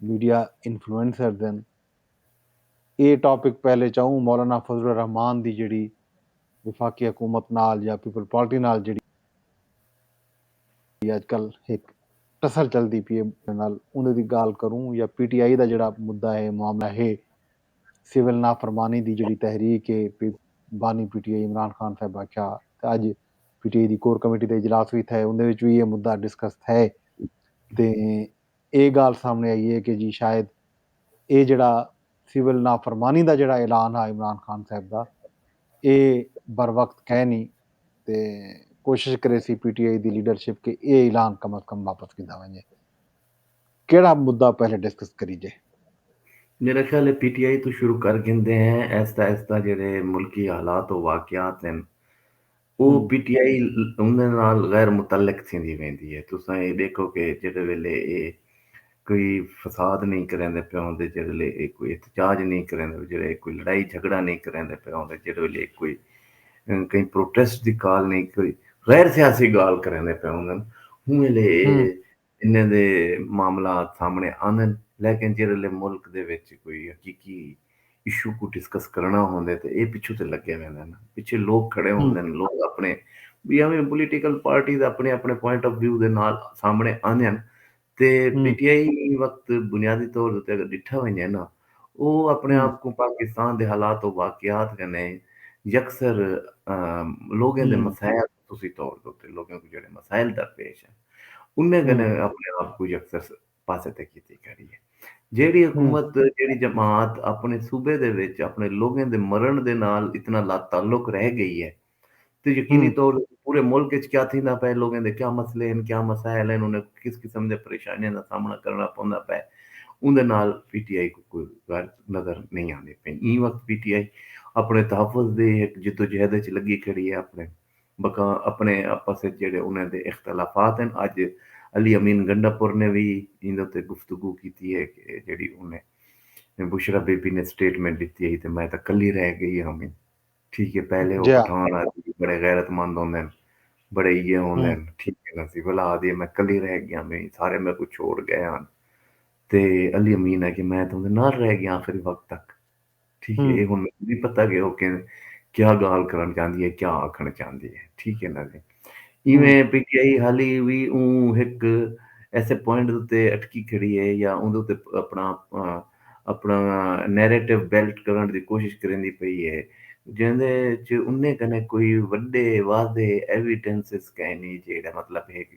Media influencers ہن۔ اے topic پہلے چاؤں مولانا فضل الرحمان دی جیڑھی وفاقی حکومت نال یا پیپلز پارٹی نال جیڑھی اج کل ہک ٹسر چلدی پی اے نال اوندے دی گالھ کروں یا پی ٹی آئی دا جیڑھا مدعا ہے معاملہ ہے سول نافرمانی دی جیڑھی تحریک اے بانی P T I Imran Khan صاحب آکھیا تے اج پی ٹی آئی دی کور کمیٹی دا اجلاس وی تھئے اوندے وچ وی ایہ مدعا ڈسکس تھئے تے ایہ ڳالھ سامݨے آئی اے کہ جی شاید ایہ جیڑھا سول نافرمانی دا جیڑھا اعلان ہا عمران خان صاحب دا ایہ بروقت کینی تے کوشش کریسی پی ٹی آئی دی لیڈرشپ کہ ایہ اعلان کم از کم واپس گھدا ونڄے۔ کیڑھا مدعا پہلے ڈسکس کریجے؟ میرا خیال ہے پی ٹی آئی توں شروع کر گھندے ہیں ایستا ایستا جیڑھے ملکی حالات و واقعات ہن او پی ٹی آئی اوندے نال غیر متعلق تھیندی ویندی ہے تساں اے ڈیکھو کہ جیڑھے ویلے اے کوئی فساد نئیں کریندے پئے ہوندے جیڑھے ویلے اے کوئی احتجاج نئیں کریندے پئے جیڑھے اے کوئی لڑائی جھگڑا نئیں کریندے پئے ہوندے جیڑھے ویلے اے کوئی کہیں پروٹیسٹ دی کال نئیں کوئی غیر سیاسی گال کریندے پئے ہوندن اوں ویلے اے انہیں دے معاملات سامنے آندن لیکن جیرھلے ملک دے وچ کوئی حقیقی ایشو کوں ڈسکس کرنڑاں ہوندے تاں اے پچھوں تے لگے ویندن ہن پچھے لوک کھڑے ہوندن لوک اپنڑے وی اویں پولیٹیکل پارٹیز اپنڑے اپنڑے پوائنٹ آف ویو دے نال سامنے آندن تے پی ٹی آئی ایں وقت بنیادی طور اتے اگر ڈٹھا ونجے نا او اپنڑے آپ کوں پاکستان دے حالات و واقعات کنے یکسر لوگیں دے مسائل خصوصی طور دے اتے لوکاں کوں جیڑھے مسائل درپیش ہن انہیں کنے اپنے آپ کوں یکسر پاسے تے کیتی کھڑی ہے جیڑھی حکومت جیڑھی جماعت اپنے صوبے دے وچ اپنے لوکاں دے مرن دے نال اتنا لا تعلق رہ گئی ہے تے یقینی طور دے پورے ملک وچ کیا تھیندا پئے لوکاں دے کیا مسئلے ہن کیا مسائل ہن انہیں کس قسم دے پریشانیاں دا سامنا کرنا پوندا پئے اوندے نال پی ٹی آئی کوئی غیرت نظر نئیں آندی پئی، ایں وقت پی ٹی آئی اپݨے تحفظ دی ہک جدوجہد اچ لڳی کھڑی اے، اپݨے بقاء اپݨے آپس اچ جیڑھے انھاں دے اختلافات ہن، اڄ علی امین گنڈا پور نے وی ایندے اتے گفتگو کیتی اے کہ جیڑھی انھیں بشریٰ بی بی نے سٹیٹمنٹ ݙتی ہئی تے میں تاں کلھی رہ ڳئی ہاں وی ٹھیک اے پہلے او پٹھان آدھی بڑے غیرت مند ہوندے ہن بڑے ایہے ہوندے ہن ٹھیک اے نا سی ولا آدھی میں کلھی رہ ڳئی ہاں وی سارے میکوں چھوڑ ڳئے ہن تے علی امین آکھیا میں تاں اوندے نال رہ گیاں آخری وقت تک ٹھیک ہے اے ہن مینوں نی پتہ کہ او کیا گالھ کرݨ چاہندی ہے کیا آکھݨ چاہندی ہے ٹھیک ہے نا جی ایویں پی ٹی آئی حالی وی اوں ہک ایسے پوائنٹ اتے اٹکی کھڑی ہے یا اوندے اتے اپݨا اپݨا نیریٹو بیلٹ کرݨ دی کوشش کریندی پئی ہے جیندے وچ انہیں کنے کوئی وݙے واضح ایویڈنسز کائنی جیڑھا مطلب ہے کہ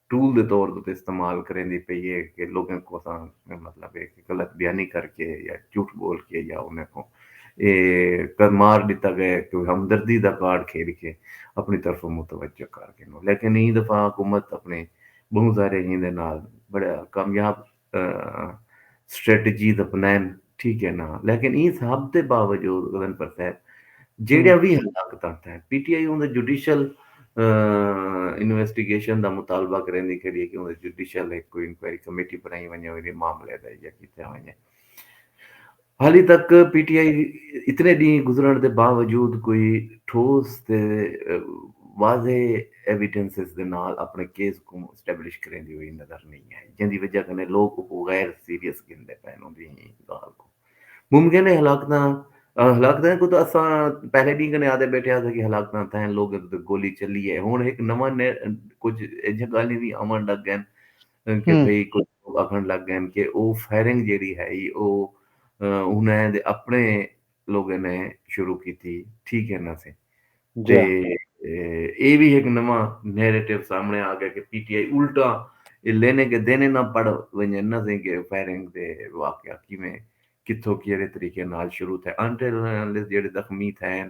ٹول دے طور اتے استعمال کریندی پئی ہے کہ لوگیں کوساں مطلب ہے کہ غلط بیانی کر کے یا جھوٹ بول کے یا انہیں کو اے مار ڈتا گئے کہ ہمدردی دا کارڈ کھیڈ کے اپنی طرفوں متوجہ کر گھنوں لیکن ایں دفعہ حکومت اپنے بہوں سارے ہیندے نال بڑا کامیاب سٹریٹجیز اپنائن ٹھیک ہے نا لیکن ایں سب دے باوجود غزن پر صاحب جیڑیاں وی ہلاکتاں تھیں پی ٹی آئی اوندے جوڈیشل انویسٹیگیشن دا مطالبہ کریندی کھڑی ہے کہ اوندے جوڈیشل ایک کوئی انکوائری کمیٹی بنائی ونجے اوندے معاملے دا یا کیتے ونجے ہالی تک پی ٹی آئی اتنے ڈینھ گزرنڑ دے باوجود کوئی ٹھوس تے واضح ایویڈنسز دے نال اپنڑے کیس کوں اسٹیبلش کریندی ہوئی نظر نئیں آئی جیندی وجہ کنیں لوک اوکوں غیر سیریس گھندے پئن اوندی گالھ کوں ممکن ہے ہلاکتاں ہلاکتاں کو تو اساں پہلے ڈینھ کنیں آدے بیٹھے ہاساں کہ ہلاکتاں تھین لوگیں تے گولی چلی ہے ہن ہک نواں کچھ ایجھا گالھیں وی آوݨ لگ گئن کہ بھئی کجھ لوگ آکھنڑ لگ گئن کہ او فائرنگ جیڑھی ہئی او انہاں دے اپنڑے لوگیں نے شروع کیتی ٹھیک ہے نہ سئیں تے اے وی ہک نواں نیریٹو سامنڑے آ گئے کہ پی ٹی آئی الٹا اے لینے کے دینے نہ پڑھ ونجن نہ سئیں کہ فائرنگ دے واقعہ کیویں کتھوں کیڑھے طریقے نال شروع تھئے انٹرنل جیڑھے زخمی تھئے ہن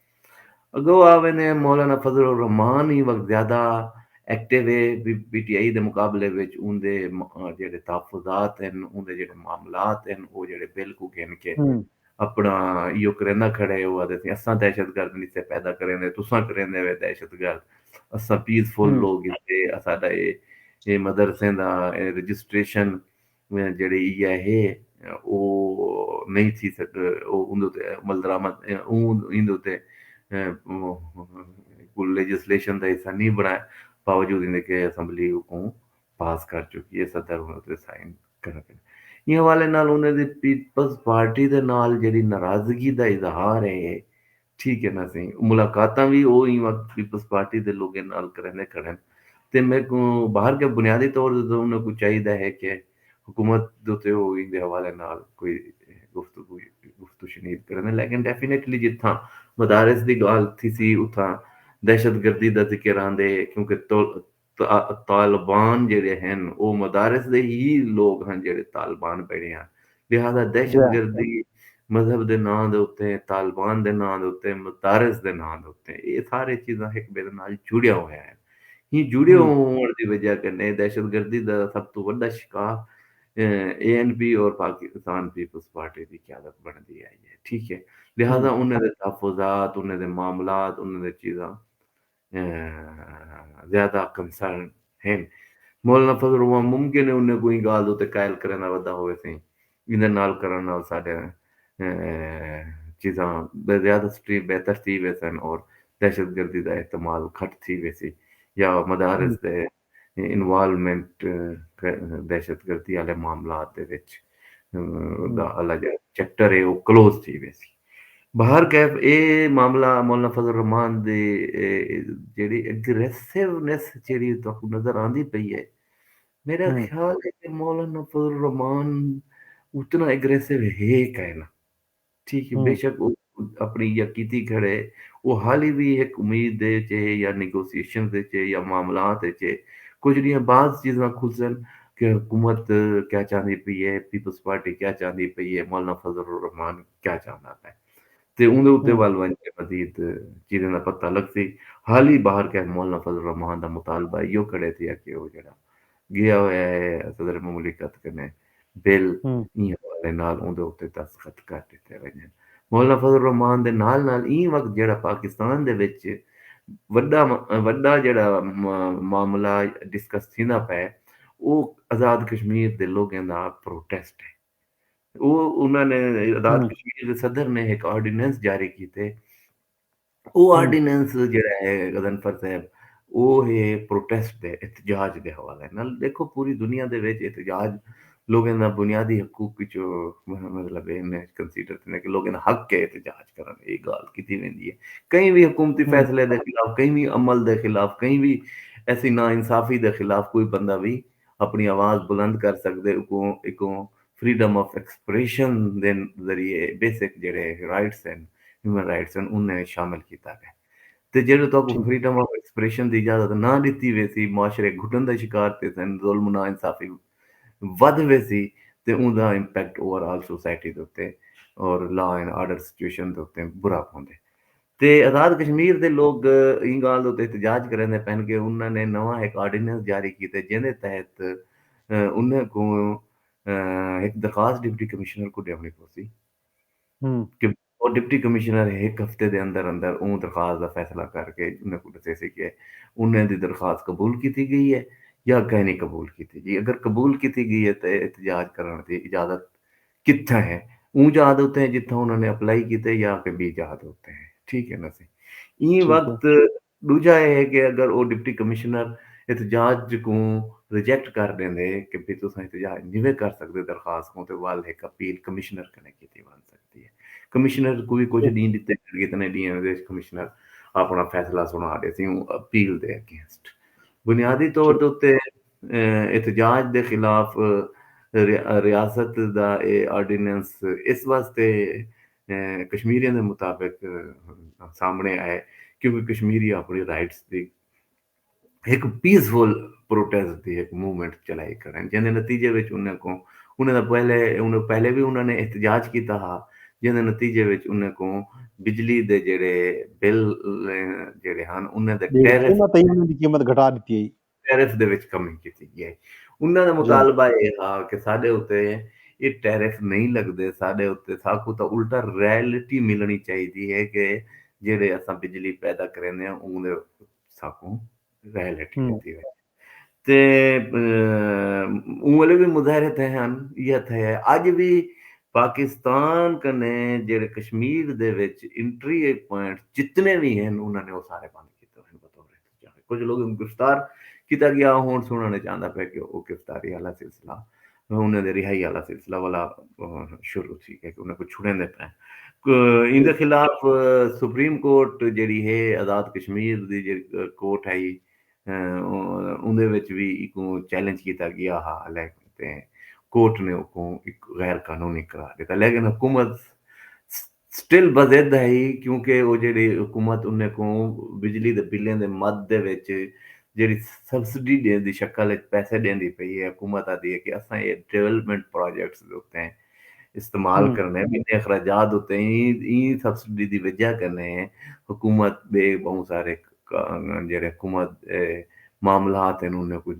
اگو آ ویندے مولانا فضل الرحمان ای وقت زیادہ ایکٹیو ہے پی ٹی آئی دے مقابلے وچ اوندے جڑے تحفظات ہن اوندے جڑے معاملات ہن او جڑے بل کو گھن کے اپنا ایو کریندا کھڑے او آدے تھے اساں دہشت گرد نہیں تھے پیدا کریندے تساں کریندے وے دہشت گرد اساں پیس فل لوگ ہن تے اساڈا اے مدرسیں دا رجسٹریشن جیڑھے ایہ ہے او نئیں تھی سک اوندے تے عملدرآمد اوں ایندے تے کوں لیجسلیشن دا حصہ نئیں بنڑایا باوجود ایندے کہ اسمبلی اوکوں پاس کر چکی ہے صدر اوندے تے سائن کرا گھن ایں حوالے نال انہاں دی پیپلز پارٹی دے نال جیڑھی ناراضگی دا اظہار ہے ٹھیک ہے نا سئیں ملاقاتاں وی او ایں وقت پیپلز پارٹی دے لوگیں نال کریندے کھڑن تے میکوں باہر گئے بنیادی طور تے تاں انہاں کوں چاہیدا ہے کہ حکومت دے اتے او ایندے حوالے نال کوئی گفتگو گفت و شنید کرن لیکن ڈیفینیٹلی جتھاں مدارس دی گالھ تھیسی اتھاں دہشت گردی دا ذکر آندے کیونکہ طالبان جیڑھے ہن او مدارس دے ہی لوگ ہن جیڑھے طالبان بنڑے ہن لہذا دہشت گردی مذہب دے ناں دے اتے طالبان دے ناں دے اتے مدارس دے ناں دے اتے اے سارے چیزاں ہک ٻئے دے نال جڑیاں ہویاں ہن ہی جڑے ہووݨ دی وجہ کنے دہشت گردی دا سب توں وݙا شکار اے این پی اور پاکستان پیپلز پارٹی دی قیادت بݨدی آئی ہے ٹھیک ہے لہذا انہیں دے تحفظات انہیں دے معاملات انہیں دے چیزاں زیادہ کنسرن ہن۔ مولانا فضل الرحمان ممکن ہے انہیں کوں ایں گالھ دے اتے قائل کرݨ دا وعدہ ہووے سئیں۔ ایندے نال کرݨ نال ساݙے چیزاں زیادہ سٹریٹ بہتر تھی ویسن اور دہشت گردی دا احتمال گھٹ تھی ویسی یا مدارس دے انوالومنٹ دہشت گردی آلے معاملات دے وچ دا آلا جیڑا چیپٹر ہے او کلوز تھی ویسی۔ بہر کیف اے معاملہ مولانا فضل الرحمان دے جیڑی اگریسونیس جیڑی تہاکوں نظر آندی پئی ہے میرا خیال ہے کہ مولانا فضل الرحمان اتنا اگریسو ہے کائنا۔ تھی کہ بے شک او اپݨی یا کیتی کھڑے او حالی وی ہک امید دے اچ ہے یا نیگوسیشنز اچ ہے یا معاملات اچ ہے کجھ ݙینہہ بعد چیزاں کھلسن کہ حکومت کیا چاہندی پئی ہے پیپلز پارٹی کیا چاہندی پئی ہے مولانا فضل الرحمان کیا چاہندا پئے تے اوندے اتے ول ونڄ کے مزید چیزاں دا پتہ لڳسی حالی باہر کہیں مولانا فضل الرحمان دا مطالبہ ایہو کھڑے تھیا کہ او جیڑھا ڳیا ہویا ہے صدر مملکت کنے بل ایں حوالے نال اوندے اتے دستخط کر ڈتے ونجن۔ مولانا فضل الرحمان دے نال نال ایں وقت جیڑھا پاکستان دے وچ وڈا وڈا جیڑھا معاملہ ڈسکس تھیندا پئے او آزاد کشمیر دے لوگاں دا پروٹیسٹ ہے۔ او انہاں نے آزاد کشمیر دے صدر نے ہک آرڈیننس جاری کیتے او آرڈیننس جیڑا ہے غضنفر صاحب او ہے پروٹیسٹ دے احتجاج دے حوالے نال دیکھو پوری دنیا دے وچ احتجاج لوگوں دا بنیادی حقوق وچ مطلب ہے میں کنسیڈر کرنا کہ لوگوں دا حق ہے احتجاج کرن اے گال کیتی ویندی ہے کہیں بھی حکومتی فیصلے دے خلاف کہیں بھی عمل دے خلاف کہیں بھی ایسی نا انصافی دے خلاف کوئی بندہ بھی اپݨی آواز بلند کر سڳدے اکوں اکوں فریڈم آف ایکسپریشن دے ذریعے بیسک جیڑھے رائٹس ہن ہیومن رائٹس ہن انھیں وچ شامل کیتا ڳئے تے جیڑھے تہاکوں فریڈم آف ایکسپریشن دی اجازت نہ ݙتی ویسی معاشرے گھٹن دا شکار تھیسن ظلم و ناانصافی ودھ ویسی تے اوندا امپیکٹ اوور آل سوسائٹی دے اتے اور لا اینڈ آرڈر سچویشن دے اتے برا پوندے تے آزاد کشمیر دے لوک ایں گالھ اتے احتجاج کریندے پئن کہ انہاں نے نواں ہک آرڈیننس جاری کیتے جیندے تحت انہاں کوں ہک درخواست ڈپٹی کمشنر کوں ڈیونڑی پوسی تے ڈپٹی کمشنر ہک ہفتے دے اندر اندر اوں درخواست دا فیصلہ کر کے انہاں کوں ڈسیسی کہ انہاں دی درخواست قبول کیتی گئی ہے یا کائنی قبول کیتی گئی۔ اگر قبول کیتی گئی ہے تے احتجاج کرنڑ دی اجازت کتھاں ہے اوں جاہ دے اتے ہیں جتھاں انہاں نے اپلائی کیتے یا کہ بی جاہ دے اتے ہیں ٹھیک ہے نا سی ایں وقت دوجا یہ ہے کہ اگر وہ ڈپٹی کمشنر احتجاج کوں ریجیکٹ کر دیں دے کہ بھی تساں احتجاج نیوے کر سکتے درخواست کوں تے وال ایک اپیل کمشنر کنے کیتی بن سکتی ہے کمشنر کوئی کچھ ڈین دیتے ہیں اتنے ڈین دے کمشنر اپنا فیصلہ سنا دے سی اپیل دے اگینسٹ بنیادی طور دے اتے احتجاج دے خلاف ریاست دا اے آرڈیننس اس واسطے کشمیریاں دے مطابق سامنڑے آئے کیونکہ کشمیری اپنڑی رائٹس دی ہک پیس فل پروٹیسٹ دی ہک موومنٹ چلائی کھڑن جیندے نتیجے وچ انہاں کوں انہاں دا پہلے انہاں پہلے وی انہاں نے احتجاج کیتا ہا جیندے نتیجے وچ انہاں کوں بجلی دے جیڑھے بل جیڑھے ہن انہاں دے ٹیرف انہاں تے انہاں دی قیمت گھٹا ڈتی ہئی ٹیرف دے وچ کمی کیتی ڳئی ہئی۔ انہاں دا مطالبہ اے ہا کہ ساݙے اتے اے ٹیرف نئیں لڳدے، ساݙے اتے ساکوں تاں الٹا رائلٹی ملݨی چاہیدی ہے کہ جیڑھے اساں بجلی پیدا کریندے ہاں اوں دے ساکوں رائلٹی ݙتی ونڄے۔ تے اوں ویلے وی مظاہرے تھئے ہن، ایہا تھئے ہے۔ اڄ وی پاکستان کنے جیڑھے کشمیر دے وچ انٹری پوائنٹس جتنے وی ہن انہاں نے او سارے بند کیتے ہوئے ہن بطور۔ کجھ لوگاں کوں گرفتار کیتا ڳیا او ہݨ سݨݨ وچ آندا پئے کہ او گرفتاری آلا سلسلہ انہاں دے رہائی آلا سلسلہ ولا شروع تھی ڳئے کہ انہاں کوں چھڑیندے پئن ایندے خلاف سپریم کورٹ جیڑھی ہے آزاد کشمیر دی جیڑھی کورٹ ہئی اوندے وچ وی ایکوں چیلنج کیتا ڳیا ہا لیکن کورٹ نے اوکوں غیر قانونی قرار ݙتا لیکن حکومت سٹل بضد ہئی کیونکہ او جیڑھی حکومت انہیں کوں بجلی دے بلیں دے مد دے وچ جیڑھی سبسڈی ڈے دی شکل وچ پیسے ڈیندی پئی ہے حکومت آدھی ہے کہ اساں ایہ ڈویلپمنٹ پراجیکٹس دے اتے استعمال کرنے انہیں اخراجات اتے ایں سبسڈی دی وجہ کنے حکومت بے بہوں سارے جیڑھے حکومت معاملات ہیں انہیں کچھ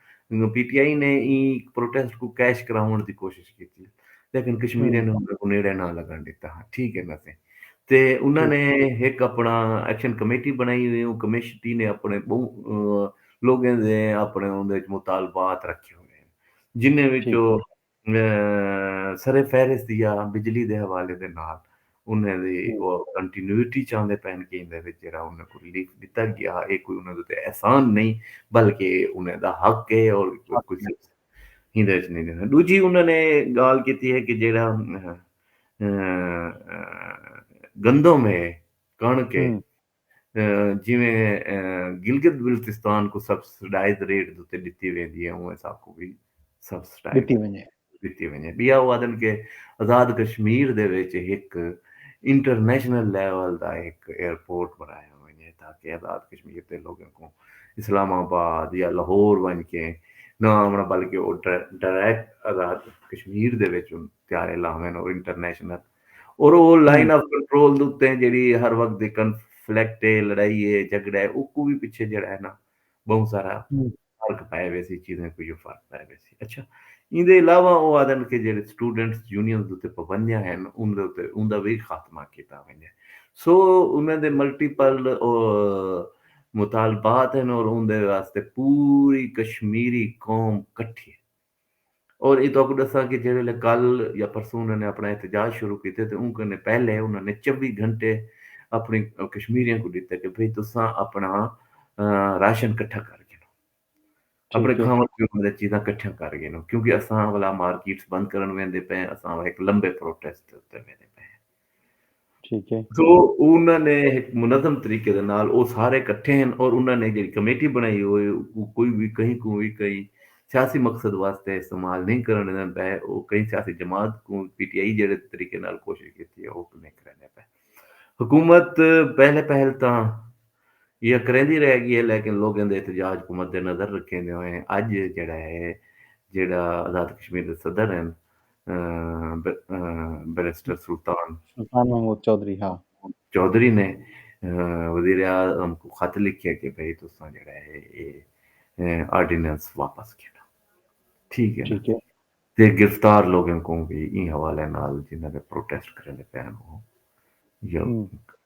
انہاں پی ٹی آئی نے ایں پروٹیسٹ کوں کیش کراوݨ دی کوشش کیتی لیکن کشمیریاں نے انہاں کوں نیڑے نہ لگݨ ݙتا ہا ٹھیک ہے نا سائیں تے انہاں نے ہک اپݨا ایکشن کمیٹی بݨائی ہوئی اوں کمیشٹی نے اپݨے ٻہوں لوکیں دے اپݨے اوندے وچ مطالبات رکھے ہوئے ہیں جنہیں وچوں سر فہرست یا بجلی دے حوالے دے نال انہاں دی او کنٹینوٹی چاہندے پئن کہ ایندے وچ جیڑھا انہاں کوں ریلیف ݙتا ڳیا اے کوئی انہاں دے اتے احسان نئیں بلکہ اے انہاں دا حق اے اور کچھ ایندے وچ نئیں ݙیساں ݙوجھی انہاں نے ڳالھ کیتی اے کہ جیڑھا گندم اے کݨک اے جیویں گلگت بلتستان کوں سبسڈائز ریٹ دے اتے ڈتی ویندی ہے اونویں ساکوں وی سبسڈائز ڈتی ونجے۔ ٻیا او آہدن کہ آزاد کشمیر دے وچ ہک انٹرنیشنل لیول دا ہک ایئرپورٹ بݨایا ونجے تاکہ آزاد کشمیر دے لوکاں کوں اسلام آباد یا لاہور ونڄ کے نہ آوݨا بلکہ او ڈائریکٹ آزاد کشمیر دے وچ طیارے لاون او انٹرنیشنل اور او لائن آف کنٹرول دے اتے جیڑھی ہر وقت دی کنفلکٹ اے، لڑائی اے، جھگڑا اے اوکوں وی پچھے جیڑھا اے نا ٻہوں سارا فرق پائے ویسی چیزیں کوں جو فرق پائے ویسی۔ اچھا ایندے علاوہ او آہدن کہ جیڑھے سٹوڈنٹس یونینز دے اتے پابندیاں ہن ان دے اتے اوندا وی خاتمہ کیتا ونڄے۔ سو انہاں دے ملٹیپل مطالبات ہن اور اوندے واسطے پوری کشمیری قوم کٹھی اے۔ اور اے تہاکوں ڈساں کہ جیڑھے ویلے کل یا پرسوں انہاں نے اپنڑاں احتجاج شروع کیتے تے اوں کنے پہلے انہاں نے چوی گھنٹے اپنڑیں کشمیریاں کوں ڈتے کہ بھئی تساں اپنڑاں راشن کٹھا کر گھنو اپنڑے ٹھیک ہے کھاونڑ پیونڑ دی چیزاں کٹھیاں کر گھنو کیونکہ اساں ولا مارکیٹس بند کرنڑ ویندے پئے اساں ہک لمبے پروٹیسٹ تے ویندے پئے ٹھیک ہے۔ سو انہاں نے ہک منظم طریقے دے نال او سارے کٹھے ہن اور انہاں نے جیڑھی کمیٹی بنڑائی ہوئی اوکوں کوئی وی کہیں کوں وی کہیں سیاسی مقصد واسطے استعمال نئیں کرݨ ݙیندا پئے او کہیں سیاسی جماعت کوں پی ٹی آئی جیڑھے طریقے نال کوشش کیتی ہے اوکوں نئیں کریندے پئے حکومت پہلے پہل تاں ایہا کریندی رہ گی ہے لیکن لوگیں دے احتجاج کوں مد نظر رکھیندے ہوئیں اڄ جیڑھا ہے جیڑھا آزاد کشمیر دے صدر ہن بیرسٹر سلطان سلطان محمود چوہدری ہا۔ چوہدری نے وزیراعظم کوں خط لکھیا کہ بھئی تساں جیڑھا ہے اے آرڈیننس واپس گھنو۔ ٹھیک ہے نا۔ تے گرفتار لوگیں کوں وی ایں حوالے نال جنہاں دے پروٹیسٹ کریندے پئے ہن او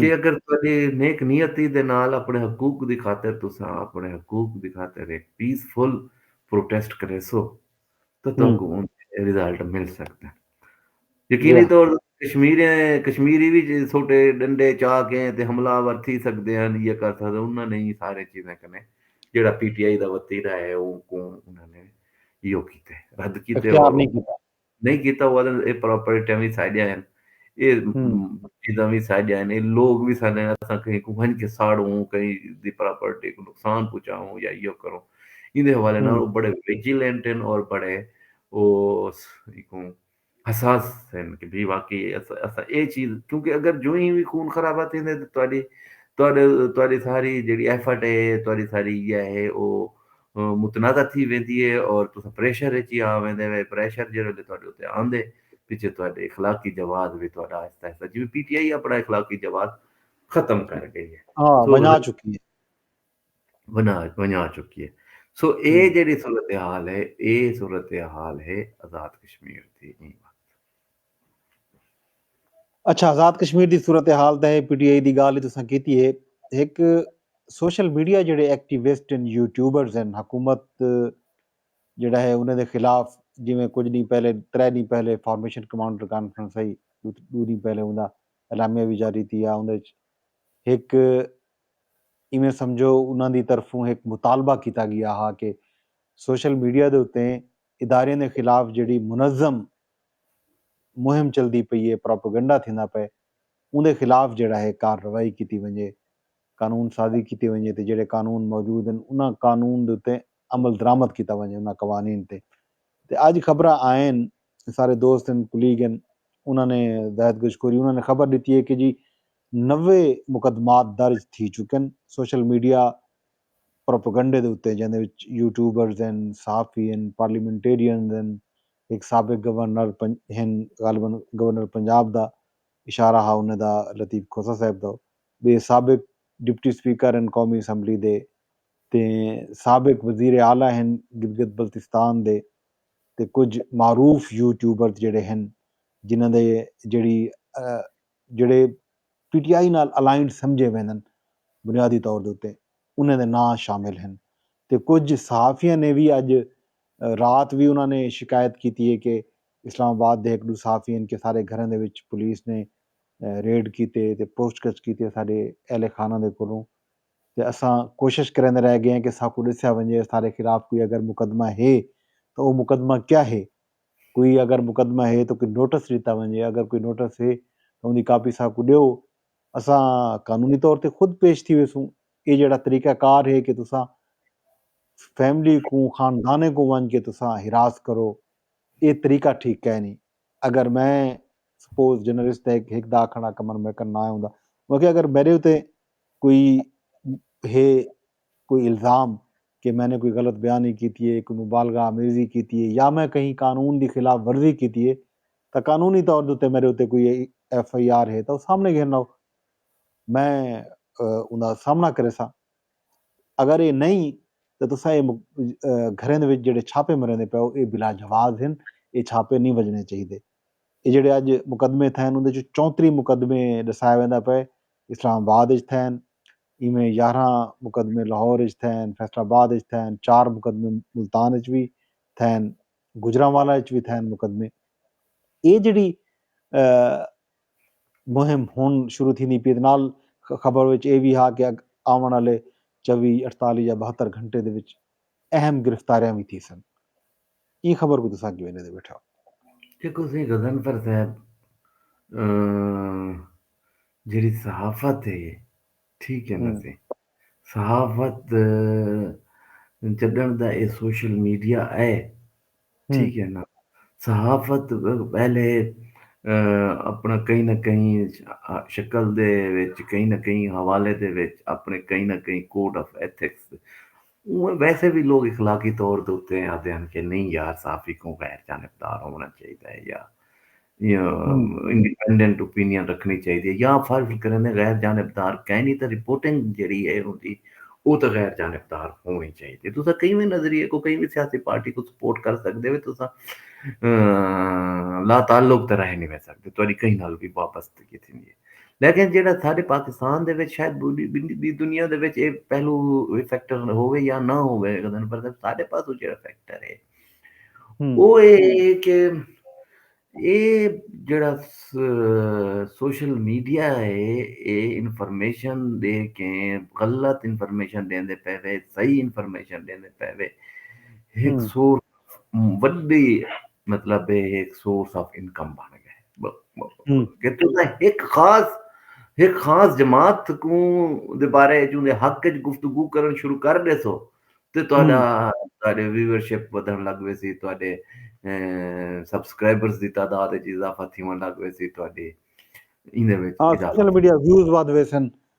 کہ اگر تہاݙی نیک نیتی دے نال اپݨے حقوق دی خاطر تساں اپݨے حقوق دی خاطر ہک پیس فل پروٹیسٹ کریسو تاں تہاکوں اوندے ریزلٹ مل سڳدن۔ یقینی طور کشمیری وی سوٹے ݙنڈے چا کے تے حملہ آور تھی سڳدے ہن یا کر سڳدن انہاں نے ایں ساریں چیزیں کنیں جیڑھا پی ٹی آئی دا وتیرہ ہے اونکوں انہاں نے ایہو کیتے رد کیتے۔ نہیں کیتا وہ آدھن اے پراپرٹیاں وی ساڈیاں ہن اے چیزاں وی ساڈیاں ہن اے لوگ وی ساڈے ہن اساں کہیں کوں ونج کے ساڑوں کہیں دی پراپرٹی کوں نقصان پہنچاؤں یا ایو کروں ایندے حوالے نال او بڑے ویجیلنٹ ہن اور بڑے او کوں حساس ہن کہ بھئی واقعی اساں اے چیز کیونکہ اگر جو ہی وی خون خرابہ تھیندے تے تہاڈی تہاڈے تہاڈی ساری جیڑی ایفرٹ ہے تہاڈی ساری یا ہے او متنازع تھی ویندی ہے اور تساں پریشر اچ ہی آ ویندے وے پریشر جیڑھے ویلے تہاڈے اتے آندے پچھے تہاڈے اخلاقی جواز وی تہاڈا آہستہ آہستہ جیویں پی ٹی آئی اپنا اخلاقی جواز ختم کر گئی ہے ہاں ونجا چکی ہے ونجا ونجا چکی ہے سو اے جیڑی صورتحال ہے اے صورتحال ہے آزاد کشمیر دی نہیں اچھا آزاد کشمیر دی صورتحال تے پی ٹی آئی دی گالھ تساں کیتی ہے ہک سوشل میڈیا جڑے ایکٹیوسٹ ہیں یوٹیوبرز ہیں حکومت جڑا ہے انہاں دے خلاف جویں کچھ ڈینھ پہلے ترے ڈینھ پہلے فارمیشن کمانڈر کانفرنس ہوئی دو ڈینھ پہلے انہاں دا اعلامیہ وی جاری تھیا انہاں وچ ہک ایویں سمجھو انہاں دی طرفوں ہک مطالبہ کیتا گیا ہا کہ سوشل میڈیا دے اتے اداریاں دے خلاف جڑی منظم مہم چلدی پئی اے، پروپیگنڈا تھیندا پئے، اوندے خلاف جیڑھا ہے کارروائی کیتی ونجے، قانون سازی کیتی ونجے تے جیڑھے قانون موجود ہن انہاں قانون دے اتے عملدرآمد کیتا ونجے انہاں قوانین تے۔ تے اج خبراں آئین، سارے دوست ہن، کلیگ ہن، انہاں نے زاہد گجکوری انہاں نے خبر ڈتی اے کہ جی نوے مقدمات درج تھی چکن سوشل میڈیا پروپیگنڈے دے اتے جیندے وچ یوٹیوبرز ہن، صحافی ہن، پارلیمنٹیرینز ہن، ہک سابق گورنر ہن غالبا گورنر پنجاب دا اشارہ ہا انہیں دا لطیف کھوسہ صاحب دا ٻئے سابق ڈپٹی سپیکر ہن قومی اسمبلی دے تے سابق وزیر اعلی ہن گلگت بلتستان دے تے کجھ معروف یوٹیوبرز جیڑھے ہن جنہاں دے جیڑھی جیڑھے پی ٹی آئی نال الائنڈ سمجھے ویندن بنیادی طور دے اتے انہاں دے ناں شامل ہن تے کجھ صحافیاں نے وی اج رات وی انہاں نے شکایت کیتی ہے کہ اسلام آباد دے ہک ڈو صحافی ہن کہ سارے گھراں دے وچ پولیس نے ریڈ کیتے تے پوچھ گچھ کیتی اساڈے اہل خانہ دے کولوں تے اساں کوشش کریندے رہ گئے ہیں کہ ساکوں ڈسیا ونجے اساڈے خلاف کوئی اگر مقدمہ ہے تاں او مقدمہ کیا ہے۔ کوئی اگر مقدمہ ہے تاں کوئی نوٹس ݙتا ونڄے، اگر کوئی نوٹس ہے تاں اوندی کاپی اساں کوں ݙیو، اساں قانونی طور تے خود پیش تھی ویسوں، ایہ جیڑھا طریقہ کار ہے کہ تساں فیملی کوں، خاندانیں کوں ونڄ کے تساں ہراس کرو، ایہ طریقہ ٹھیک کائنی، اگر میں سپوز جرنلسٹ دا ہک دا آکھݨ دا کمن میکݨ نہ ہوندا، میں آکھیا اگر میݙے اتے کوئی ہے۔ کوئی الزام کہ میں نے کوئی غلط بیانی کیتی ہے، کوئی مبالغہ آمیزی کیتی ہے یا میں کہیں قانون دی خلاف ورزی کیتی ہے تاں قانونی طور دے اتے میڈے اتے کوئی ایف آئی آر ہے تاں او سامنے گھن آؤ میں اوندا سامنا کریساں اگر اے نئیں تاں تساں اے گھریں دے وچ جیڑھے چھاپے مریندے پیو اے بلا جواز ہن اے چھاپے نئیں وجنے چاہیدے اے جیڑھے اج مقدمے تھئن اوندے چوں چونتریہہ مقدمے ڈسایا ویندا پئے اسلام آباد اچ تھئن ایویں یارھاں مقدمے لاہور اچ تھین، فیصل آباد اچ تھین، چار مقدمے ملتان اچ وی تھین، گوجرانوالہ اچ وی تھین مقدمے۔ ایہ جیڑھی مہم ہن شروع تھیندی پی اے تے نال خبر وچ ایہ وی ہا کہ آوݨ آلے چوی، اٹھتالیھ یا ٻہتر گھنٹے دے وچ اہم گرفتاریاں وی تھیسن۔ ایں خبر کوں تساں کیویں ݙیندے ٻیٹھے ہو؟ دیکھو سئیں غضنفر صاحب جیڑھی صحافت ہے ٹھیک ہے نا سئیں صحافت جݙݨ دا اے سوشل میڈیا اے ٹھیک ہے نا صحافت پہلے اپݨا کہیں نہ کہیں شکل دے وچ کہیں نہ کہیں حوالے دے وچ اپݨے کہیں نہ کہیں کوڈ آف ایتھکس اونویں ویسے وی لوک اخلاقی طور دے اتے آہدے ہن کہ نئیں یار صحافی کوں غیر جانبدار ہووݨا چاہیدا ہے یا انڈیپینڈنٹ اوپینین رکھݨی چاہیدی ہے یا فرض کریندے غیر جانبدار کائے نی تاں رپورٹنگ جیڑھی ہے اوندی او تاں غیر جانبدار ہووݨی چاہیدی ہے۔ تساں کہیں وی نظریے کوں کہیں وی سیاسی پارٹی کوں سپورٹ کر سڳدے ہو تساں لاتعلق تاں رہ نی ویسڳدے تہاݙی کہیں نال وی وابستگی تھیندی ہے۔ لیکن جیڑھا ساڈے پاکستان دے وچ شاید ٻی دنیا دے وچ ایہ پہلو ایہ فیکٹر ہووے یا نہ ہووے پر ساڈے پاسوں جیڑھا فیکٹر ہے او اے ہے کہ اے جیڑھا سوشل میڈیا ہے اے انفارمیشن دے کے غلط انفارمیشن ݙیندے پئے وے صحیح انفارمیشن ݙیندے پئے وے ہک سورس وڈی مطلب ایک سورس آف انکم بن گئے کہ تو ایک خاص ایک خاص جماعت کو دے بارے جو دے حق وچ گفتگو کرن شروع کر دے سو تے تہاڈا تہاڈے ویورشپ ودھن لگ وے سی تہاڈے سبسکرائبرز دی تعداد وچ اضافہ تھیون لگ وے سی تہاڈی ایندے وچ سوشل میڈیا ویوز ودھ ویسن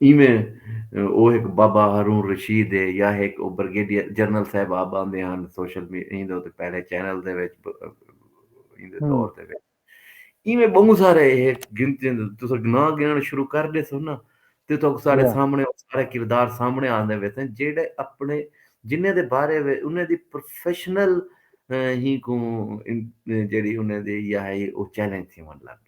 ایویں او ہک بابا ہارون رشید ہے یا ہک او برگیڈیئر جنرل صاحب آپ آندے ہن سوشل می ایندے اتے پہلے چینل دے وچ ایندے دور دے وچ ایویں بہوں سارے ہے گنتی تساں ناں گنݨ شروع کر ݙیسو نا تے تہاکوں سارے سامݨے او سارے کردار سامݨے آندے ویسن جیڑھے اپݨے جنہاں دے بارے وچ انہاں دی پروفیشنل ہی کوں جیڑھی انہاں دی یا ہئی او چیلنج تھیوݨ لڳ ڳئی۔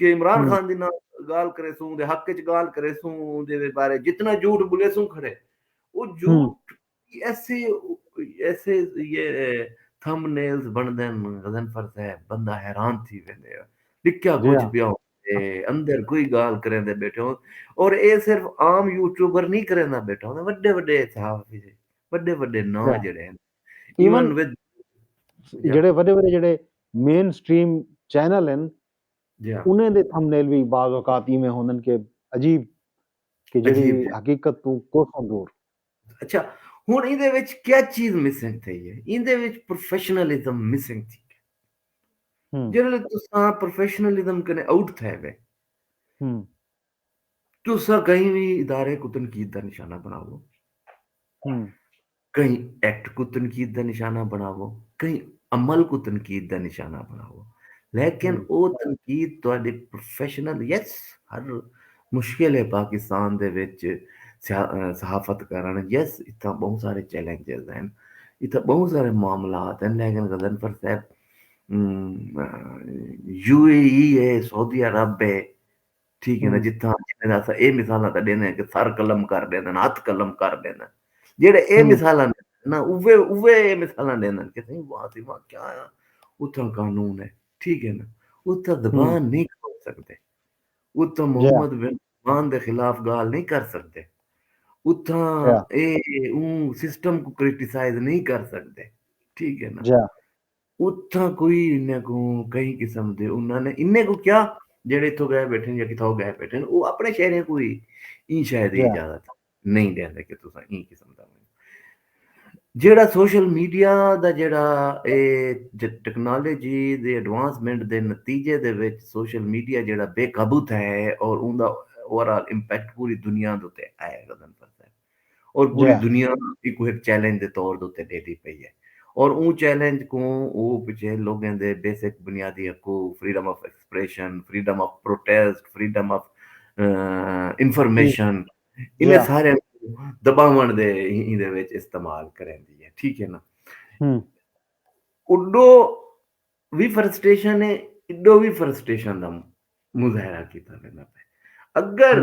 کہ عمران خان دے نال گالھ کریسوں دے حق اچ گالھ کریسوں دے بارے جتنا جھوٹ بلیسوں کھڑے او جھوٹ ایسے ایسے یہ تھم نیلز بندن غزنفر صاحب بندہ حیران تھی ویندے ہو لکھیا کچھ پیا ہو اندر کوئی گال کریں دے بیٹھے ہوں اور اے صرف عام یوٹیوبر نہیں کریں دا بیٹھا ہوں وڈے وڈے صحافی سے وڈے وڈے نا جڑے ہیں ایون ود جڑے وڈے وڈے جڑے مین سٹریم چینل ہیں انہیں دے تھمبنیل وی بعض اوقات ایویں ہوندن کہ عجیب کہ جیڑھی حقیقت توں کوساں دور۔ اچھا ہن ایندے وچ کیا چیز مسنگ تھئی ہے ایندے وچ پروفیشنلزم مسنگ تھی گیا جیڑھے لے تساں پروفیشنلزم کنے آؤٹ تھے وے تساں کہیں وی ادارے کو تنقید دا نشانہ بناؤ کہیں ایکٹ کوں تنقید دا نشانہ بݨاوو، کہیں عمل کوں تنقید دا نشانہ بݨاوو لیکن او تنقید تہاݙے پروفیشنل یس ہر مشکل ہے پاکستان دے وچ صحافت کرݨ یس اتھاں ٻہوں سارے چیلنجز ہن اتھاں ٻہوں سارے معاملات ہن لیکن غضنفر صاحب یو اے ای ہے سعودی عرب ہے ٹھیک ہے نا جتھاں جتھاں اساں اے مثالاں تاں ڈیندے ہیں کہ سر قلم کر ڈیندے ہیں ہتھ قلم کر ڈیندے ہیں جیڑھے اے مثالاں نا اوے اوے اے مثالاں ڈیندے ہیں کہ سائیں واہ سی واہ کیا ہے اتھاں قانون ہے ٹھیک ہے نا اتھاں زبان نہیں کھول سکدے اتھاں محمد بن عثمان دے خلاف گال نہیں کر سکدے اتھاں اے اوں سسٹم کو کرٹیسائز نہیں کر سکدے ٹھیک ہے نا اتھاں کوئی انھاں کوں کہیں قسم دے انھاں نے انھیں کوں کیا جیڑھے اتھوں گئے بیٹھن یا کتھاؤ گئے بیٹھن او اپنے شہریاں کوں وی ایں شے دی اجازت نئیں ڈیندے کہ تساں ایں قسم دا جیڑھا سوشل میڈیا دا جیڑھا اے ٹیکنالوجی دے ایڈوانسمنٹ دے نتیجے دے وچ سوشل میڈیا جیڑھا بے قابو تھیا ہے اور اوندا اوورال امپیکٹ پوری دنیا دے اتے آیا گزن پرتا ہے اور پوری دنیا ایکو ایک چیلنج دے طور دے تے ڈیٹی پئی ہے اور اون چیلنج کوں او پچھے لوگیں دے بیسک بنیادی حقوق freedom of expression freedom of protest freedom of information انہیں سارے دباون دے ہی دے وچ استعمال کریں دی ہے ٹھیک ہے نا اڈو وی فرسٹیشن ہے اڈو وی فرسٹیشن دا مظاہرہ کیتا لینا پہ اگر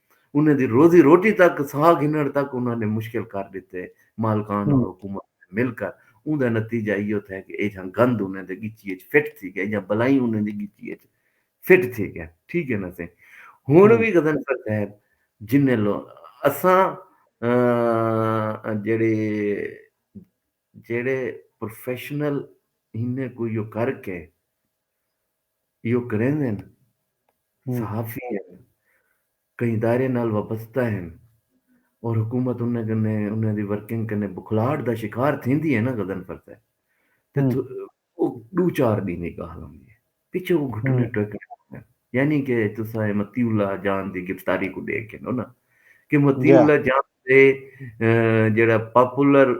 انہاں دی روزی روٹی تک ساہ گھنڑ تک انہاں نے مشکل کر ڈتے۔ مالکان اور حکومت نے مل کر اوندہ نتیجہ ایہو تھے کہ ایجھاں گند انہاں دے گچی اچ فٹ تھی گئے ایجھاں بلائیں انہاں دی گچی اچ فٹ تھی گئے ٹھیک ہے نا سائیں ہن وی غضنفر صاحب جنہیں لو اساں جڑے جڑے پروفیشنل انہیں کوئی کر کے ایہو کریندن، صحافی ہن، کہیں ادارے نال وابستہ ہن اور حکومت انہاں کنے انہاں دی ورکنگ کنے بکھلاہٹ دا شکار تھیندی ہے نا غضنفر صاحب تے او ݙو چار ݙینھ دی ڳالھ ہوندی ہے پچھوں او گھٹنے ٹیکݨ لڳدن یعنی کہ تساں اے مطیع اللہ جان دی گرفتاری کوں ݙیکھ گھنو نا کہ مطیع اللہ جان تے جیڑھا پاپولر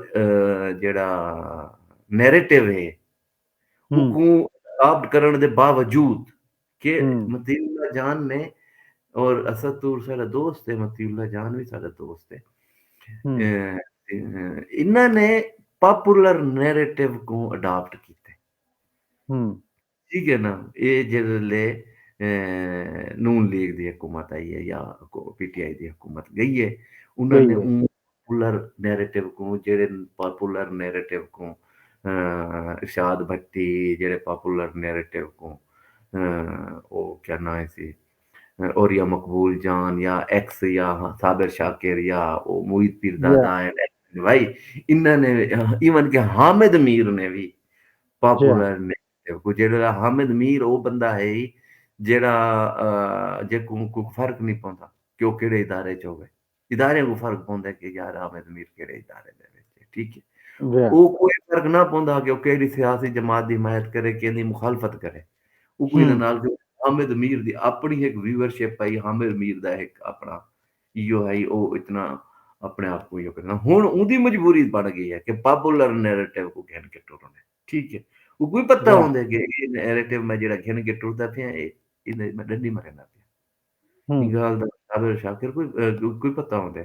جیڑھا نیریٹو ہے کوں اداپٹ کرݨ دے باوجود کہ مطیع اللہ جان نے اور اسد طور ساڈا دوست ہے مطیع اللہ جان وی ساڈا دوست ہے انہاں نے پاپولر نیریٹو کوں اڈاپٹ کیتے ٹھیک ہے نا اے جڑے لے نون لیگ دی حکومت آئی ہے یا پی ٹی آئی دی حکومت گئی ہے انہاں نے پولر نیریٹو کوں جیڑھے پاپولر نیریٹو کوں ارشاد بھٹی جیڑھے پاپولر نیریٹو کوں او کیا ناں ہیسی اور یا مقبول جان یا ایکس یا صابر شاکر یا او معید پیر زادہ ہیں بھائی انہاں نے ایون کہ حامد میر نے بھی پاپولر نیریٹو کوں جیڑھے حامد میر او بندہ ہے جیڑھا جے کوں کوئی فرق نہیں پوندا کہ او کیڑھے ادارے چ ہووے ادارے کوں فرق پوندے کہ یار حامد میر کیڑھے ادارے دے وچ ہے ٹھیک ہے او کوئی فرق نہ پوندا کہ او کیڑھی سیاسی جماعت دی حمایت کرے کیندی مخالفت کرے او کوئی نہ نال حامد میر دی اپنی ہک ویور شپ پائی حامد میر دا ہک اپنا ایو ہے او اتنا اپنے آپ کو ہن اون دی مجبوری بن گئی ہے کہ پاپولر نیریٹو کو گھن کے ٹرن ہے ٹھیک ہے او کوئی پتہ ہوندے کہ اے نیریٹو میں جڑا گھن کے ٹردا پیا اے میں ڈنڈی مرے نہ پیا ایں گالھ دا صابر شاکر کوں کوئی پتہ ہوندے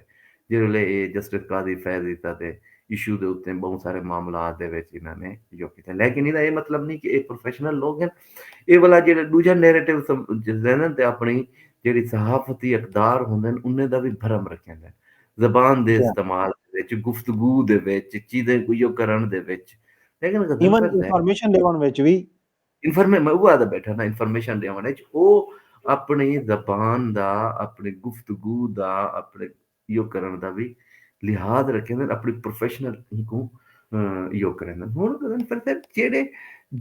جیڑھے ویلے اے justice Qazi Faiz Isa they issue they اتے بہوں سارے معاملات دے وچ انہاں نے جو کیتے لیکن ایندا اے مطلب نی کہ اے پروفیشنل لوگ ہن اے والا جیڑھا ڈوجھا نیریٹو سمجھدن تے اپنی جیڑھی صحافتی اقدار ہوندن انہیں دا وی بھرم رکھیندن زبان دے استعمال دے وچ گفتگو دے وچ چیزیں کو یو کرن دے وچ لیکن غضنفر صاحب ایون انفارمیشن لیون وچ وی انفارمیشن میں اوہ آدھا بیٹھا نا انفارمیشن ڈیون اچ او اپنی زبان دا اپنی گفتگو دا اپنی یو کرن دا وی لحاظ رکھیندن اپنی پروفیشنل کوں یو کریندن ہن گزن پر صاحب جیڑے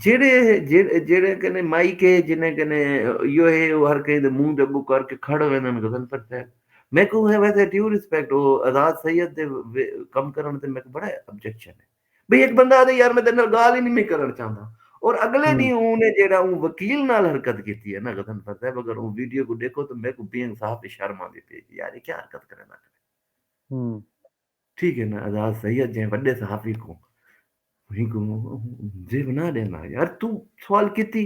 جیڑے جیڑے کنے مائک ہے جنے کنے یو ہے او ہر کہیں دے منہ دے اگوں کر کے کھڑ ویندن گزن پر صاحب میں کو ہے ویسے ڈیو ریسپیکٹ او آزاد سید دے کم کرن تے میں کو بڑا آبجیکشن ہے بھئی ہک بندہ آہدے یار میں تیڈے نال گالھ ہی نی میں کرنڑ چاہندا اور اگلے ڈینہہ اوں نے جیڑا اوں وکیل نال حرکت کیتی ہے نا غضنفر صاحب اگر اوں ویڈیو کوں ڈیکھو تاں میکوں بینگ صاحب تے شرم آندی پئی کہ یار اے کیا حرکت کریندا پیا ٹھیک ہے نا آزاد سید جیں وڈے صحافی کوں ہی کوں جے بنا ڈیندا یار تو سوال کیتی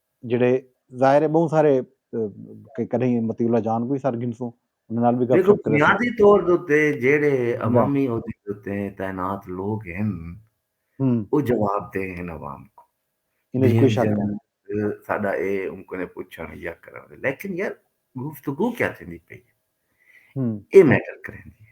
جیڑھے ظاہر ہے بہوں سارے کہ کدھیں مطیع اللہ جان کوئی سر گھنسوں انہاں نال بھی گپ شپ کرے سوں دیکھو طور دوتے جیڑھے عوامی عہدے دوتے تعینات لوگ ہیں او جواب دے ہیں عوام کو انہاں وچ کوئی شک نہ ساڈا اے ان کو نے پوچھن یا کرن لیکن یار گفتگو کیا تھیندی پئی اے میٹر کریندی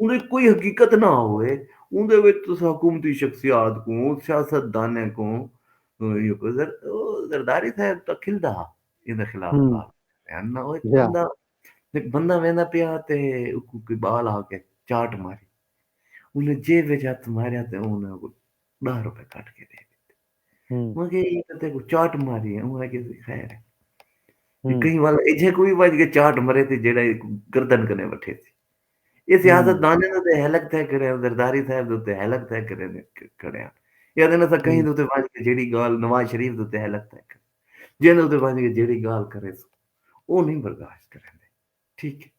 انہاں کوئی حقیقت نہ ہووے اوندے وچ تساں حکومتی شخصیات کوں سیاست دانیں کوں زرداری صاحب تاں کھلدا ہا ایندے خلاف بیان نہ ہوئے بندہ ایک بندہ ویندا پیا تے اکو کوئی بال آ کے چاٹ ماری انہیں جے وچ ہاتھ ماریا تے انہیں کو ڈاہ روپے کٹ کے دے دیتے انہیں کہ یہ کتے کو چاٹ ماری ہے انہیں کہ خیر ہے کہیں والا ایجھے کوئی واج کے چاٹ مرے تھے جیڑا گردن کنے بٹھے تھے اے سیاست دانیں دے اتے ہلک تھے کھڑے ہیں، زرداری صاحب دے اتے ہلک تھے کھڑے ہیں، کھڑے ہیں۔ اے آدھے نے اساں کہیں دے اتے ونج کے جیڑی گال نواز شریف دے اتے ہلک تھے کھڑے ہیں۔ جیندے اتے ونج کے جیڑی گال کرے سو او نہیں برداشت کریں دے۔ ٹھیک ہے۔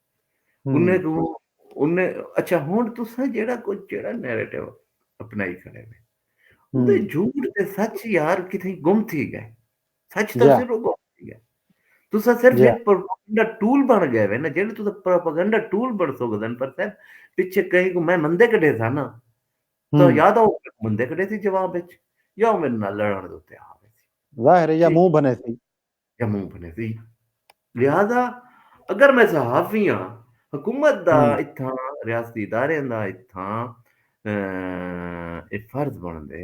انہیں کو انہیں اچھا ہونڈ تو سا جیڑا کو جیڑا نیریٹیو اپنائی کھڑے ہیں۔ اتے جھوٹ تے سچ یار کتھیں گم تھی گئے۔ سچ تاں صرف اوکوں آکھیا گئے۔ تساں صرف ہک پروپیگنڈا ٹول بݨ گئے وے نا جیڑھے تساں پروپیگنڈا ٹول بݨ سڳدن پر صاحب پچھے کہیں کوں میں مندے کڈھے ساں نا تاں یا تاں او مندے کڈھے سی جواب وچ یا او میڈے نال لڑݨ دے اتے آ ویسی ظاہر ہے یا منہ بھنے سی یا منہ بھنے سی لہذا اگر میں صحافی ہاں حکومت دا اتھاں ریاستی ادارے دا اتھاں اے فرض بݨدے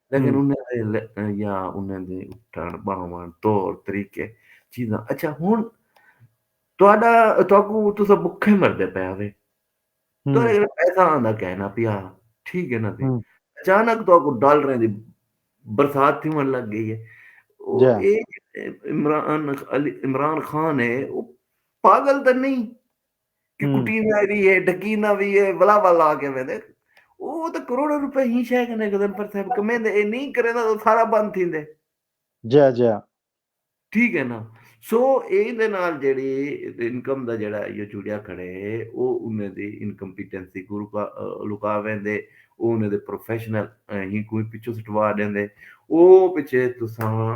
لیکن ہوں انہیں دے ل- یا انہیں دے اٹھن باون طور طریقے چیزاں اچھا ہن تہاڈا تہاکو تسا بکھے مردے پے ہوے ہوں تہاڈے گھر پیسہ آندا کہنا پیا ٹھیک ہے نا سی ہوں اچانک تہاکو ڈالریں دی برسات تھیون لگ گئی ہے او جا اے عمران علی عمران خان ہے او پاگل تے نہیں کٹینا بھی ہے ڈکینا بھی ہے ولا ولا کے میں دے وہ تو کروڑ روپے ہی شے کنے گزن پر صاحب کمیں دے اے نہیں کرے دا تو سارا بند تھی دے جا جا ٹھیک ہے نا سو اے دے نال جڑی انکم دا جڑا یہ جڑیا کھڑے او انہیں دی انکمپیٹنسی کو لکا وین دے او انہیں دے پروفیشنل ہی کوئی پچھو سٹوا دین دے او پچھے تو ساں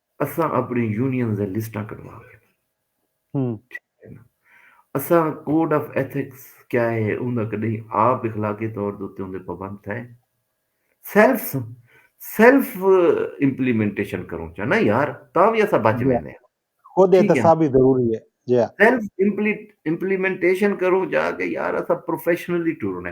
اساں اپنڑیں یونینز دیاں لسٹاں کڈھوا گھنڑاں۔ اساں کوڈ آف ایتھکس کیا ہے اوندا کڈھیں آپ اخلاقی طور دے اتے اوندے پابند تھئے؟ سیلف سیلف امپلیمنٹیشن کروں چا نا یار تاں وی اساں بچ ویندے ہاں۔ خود احتساب ہی ضروری ہے۔ سیلف امپلیمنٹیشن کروں چا کہ یار اساں پروفیشنلی ٹرنے۔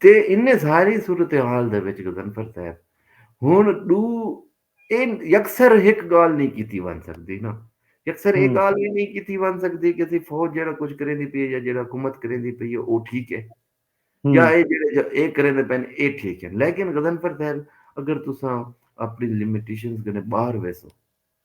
تے انہیں ساری صورتحال دے وچ غضنفر صاحب ہن ڈو این یکسر ہک گال نہیں کیتی ون سکدی نا یکسر اے گال وی نہیں کیتی ون سکدی کہ اسی فوج جیڑا کچھ کریں دی پئی ہے یا جیڑا حکومت کریں دی پئی ہے او ٹھیک ہے یا اے جیڑے اے کریں دے پین اے ٹھیک ہے لیکن غضنفر صاحب اگر تساں اپنی لمیٹیشنز کنے باہر ویسو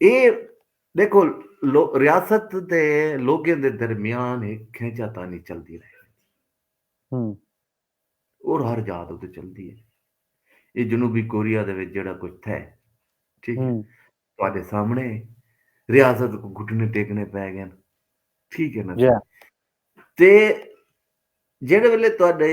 اے ڈیکھو ریاست تے لوگیں دے درمیان ہک کھینچا تانی چلدی رہی اور ہر جا تو چلدی ہے یہ جنوبی کوریا دے وچ جڑا کچھ تھے ٹھیک ہے تواڈے سامنے ریاست کو گھٹنے ٹیکنے پے گئے ٹھیک ہے نا جی۔ تے جڑے ویلے تواڈے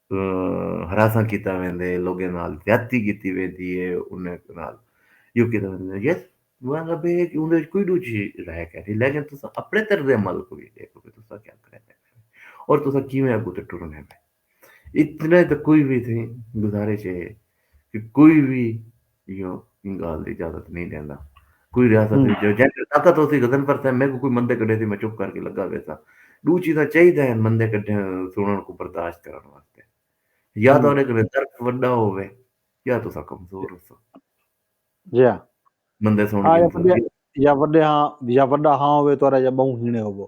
ہراساں کیتا ویندے لوگیں نال زیادتی کیتی ویندی ہے انہیں نال یو کیتا ویندے یس مطلب ہے کہ اوندے وچ کوئی ڈو چیز رہ کے نہیں لیکن تساں اپنے طرز عمل کو بھی دیکھو کہ تساں کیا کرے اور تساں کیویں اگوں تے ٹرن ہے اتنا تو کوئی بھی تھی گزارش ہے کہ کوئی بھی ایہو ایں گالھ دی اجازت نئیں ڈیندا۔ کوئی ریاست وچ جو جیں کول طاقت ہوسی وزن پرسے، میکوں کوئی مندے کڈھیسی میں چپ کر کے لگا ویساں۔ ڈو چیزاں چاہیداں ہن مندے کڈھے سنڑݨ کوں برداشت کرݨ واسطے۔ یا تہاڈے کنے درک وڈا ہووے یا تساں کمزور ہوسو۔ جیہاں مندے سنڑ گھنسو۔ یا وڈے ہاں یا وڈا ہاں ہووے تہاڈا یا بہوں ہینے ہووو۔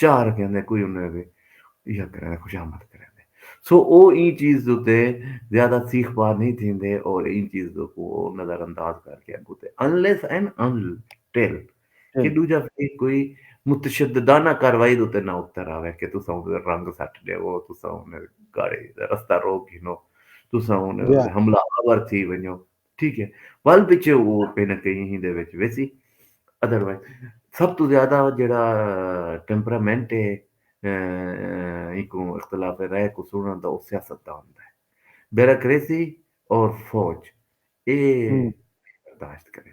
چاہ رکھیندے کوئی انہاں دے اگے ایہا کریندے خوشامد کریندے سو او ایں چیز دے اتے زیادہ سیخ پا نئیں تھیندے اور ایں چیز دے کو او نظر انداز کر کے اگوں تے انلیس اینڈ انٹل کہ ڈوجھا فریق کوئی متشددانہ کاروائی دے اتے نہ اتر آوے کہ تساں انہاں دے رنگ سٹ ڈیوو تساں انہاں دی گاڑی دا رستہ روک گھنو تساں انہاں دے حملہ آور تھی ونجو ٹھیک ہے ول پچھے وہ کہیں نہ کہیں ہی دے وچ ویسی ادر وائز سب تو زیادہ جڑا ٹیمپرامنٹ ہے ایکو اختلاف رائے کو سننا دا وہ سیاست دا ہوتا ہے بیراکریسی اور فوج اے برداشت کریں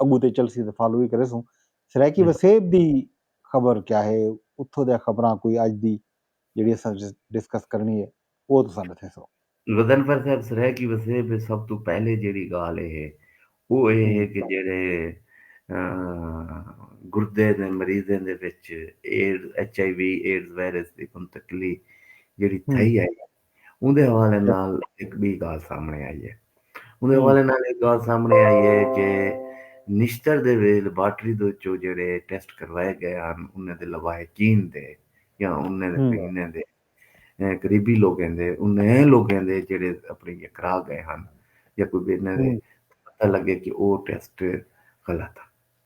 اگوں تے چلسی تے فالو وی کریسوں۔ سرائیکی وسیب دی خبر کیا ہے اتھوں دیاں خبراں کوئی اج دی جیڑھی اساں ڈسکس کرنی ہے اوہ تساں ڈسیسو۔ غضنفر صاحب سرائیکی وسیب وچ سب توں پہلے جیڑھی گالھ اے ہے اوہ اے ہے کہ جیڑھے گردے دے مریضیں دے وچ AIDS, H I V AIDS virus دی منتقلی جیڑھی تھئی اے اوندے حوالے نال ہک ٻی ڳالھ سامݨے آئی ہے اوندے حوالے نال ہک ڳالھ سامݨے آئی ہے کہ نشتر دے ویلھ لیبارٹری دے وچوں جیڑھے ٹیسٹ کروائے ڳئے ہن انھاں دے لواحقین دے یا انھاں دے پہینݨ دے قریبی لوکیں دے انھیں لوکیں دے جیڑھے اپݨی یا کرا ڳئے ہن یا کوئی ٻئے انھاں دے پتہ لڳے کہ او ٹیسٹ غلط ہن۔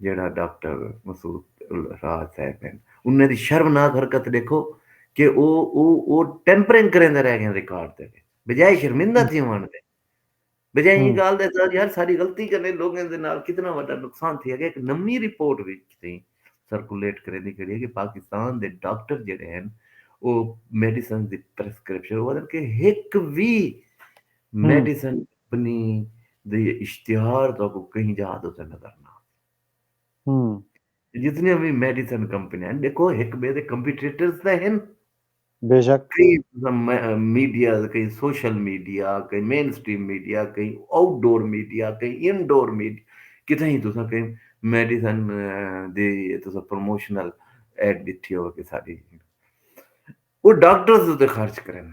جیڑھا ڈاکٹر مسعود الراج صاحب ہن انہاں دی شرمناک حرکت ݙیکھو کہ او او او ٹیمپرنگ کریندے رہ ڳئن ریکارڈ دے وچ بجائے شرمندہ تھیوݨ دے بجائے ایں ڳالھ دا احساس یار ساݙی غلطی کنے لوکیں دے نال کتنا وݙا نقصان تھیا ڳئے ہک نویں رپورٹ وی تھیں سرکولیٹ کریندی کھڑی ہے کہ پاکستان دے ڈاکٹر جیڑھے ہن او میڈیسنز دی پرسکرپشن او آکھدن کہ ہک وی میڈیسن اپنی دے اشتہار تہاکوں کہیں جاہ دے تے نظر نہ آوے۔ جتنیاں وی میڈیسن کمپنیاں ہن ݙیکھو ہک ٻئے دے کمپیٹیٹرز تاں ہن۔ بے شک۔ میڈیا کہیں سوشل میڈیا کہیں مین سٹریم میڈیا کہیں آؤٹ ڈور میڈیا کہیں ان ڈور میڈیا کتھاں ہی تساں کہیں میڈیسن دی تساں پروموشنل ایڈ ݙٹھی ہووے کساݙی او ڈاکٹرز اتے خرچ کریندن۔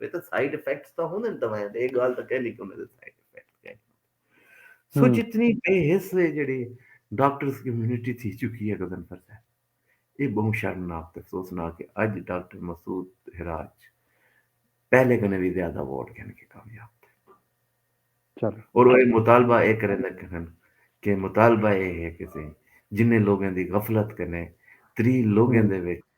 وے تاں سائیڈ ایفیکٹس تاں ہوندے نے دوائیں دے اے گال تاں کہنی کہ انہاں دے سائیڈ ایفیکٹ کہیں سو جتنی بے حس ہے جڑی ڈاکٹرز کمیونٹی تھی چکی ہے گزن پر سے اے بہوں شرمناک تے افسوسناک کہ اج ڈاکٹر مسعود ہراج پہلے کنے بھی زیادہ ووٹ گھن کے کامیاب تھے اور وہ مطالبہ اے کریں لکھن کہ مطالبہ اے ہے کہ جنہیں لوگوں دی غفلت کنے تری لوگوں دے وچ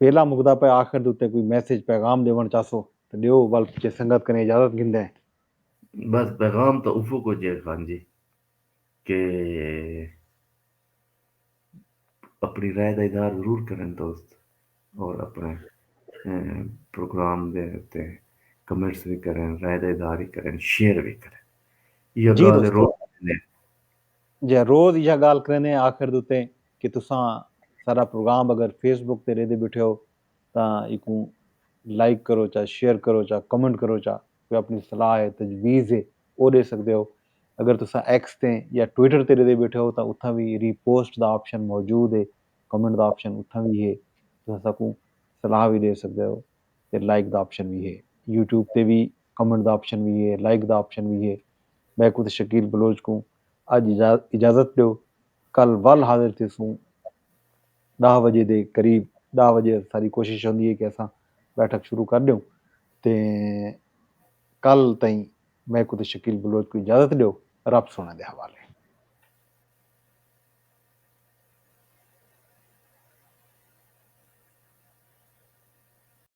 ویلھا مکدا پئے آخر دے اتے کوئی میسج پیغام ݙیوݨ چاہسو تاں ݙیو ول جے سنگت کنیں اجازت گھندیں۔ بس پیغام تاں اوہو کجھ ہے خان جی کہ اپݨی رائے دا اظہار ضرور کرن دوست اور اپݨے پروگرام دے اتے کمنٹس وی کرن رائے دا اظہار ہی کرن شیئر وی کرن ایہا گالھ ہے روز جئیں روز ایہا ڳالھ کریندے ہیں آخر دے اتے کہ تساں ساݙا پروگرام اگر فیس بک تے ݙیندے ٻیٹھے ہو تاں ایکوں لائیک کرو چا شیئر کرو چا کمنٹ کرو چا کوئی اپݨی صلاح ہے تجویز ہے او ݙے سڳدے ہو اگر تساں ایکس تے یا ٹویٹر تے ݙیندے ٻیٹھے ہو تاں اتھاں وی ری پوسٹ دا آپشن موجود ہے کمنٹ دا آپشن اتھاں وی ہے تساں ساکوں صلاح وی ݙے سڳدے ہو تے لائیک دا آپشن وی ہے یوٹیوب تے وی کمنٹ دا آپشن وی ہے لائیک دا آپشن وی ہے میکوں تے شکیل بلوچ کوں اج اجازت ڈیو کل ول حاضر تھیسوں ڈاہ وجے دے قریب ڈاہ وجے اساڈی کوشش ہوندی ہے کہ اساں بیٹھک شروع کر ڈیوں تے کل تئیں میکوں تے شکیل بلوچ کوں اجازت ڈیو رب سونے دے حوالے۔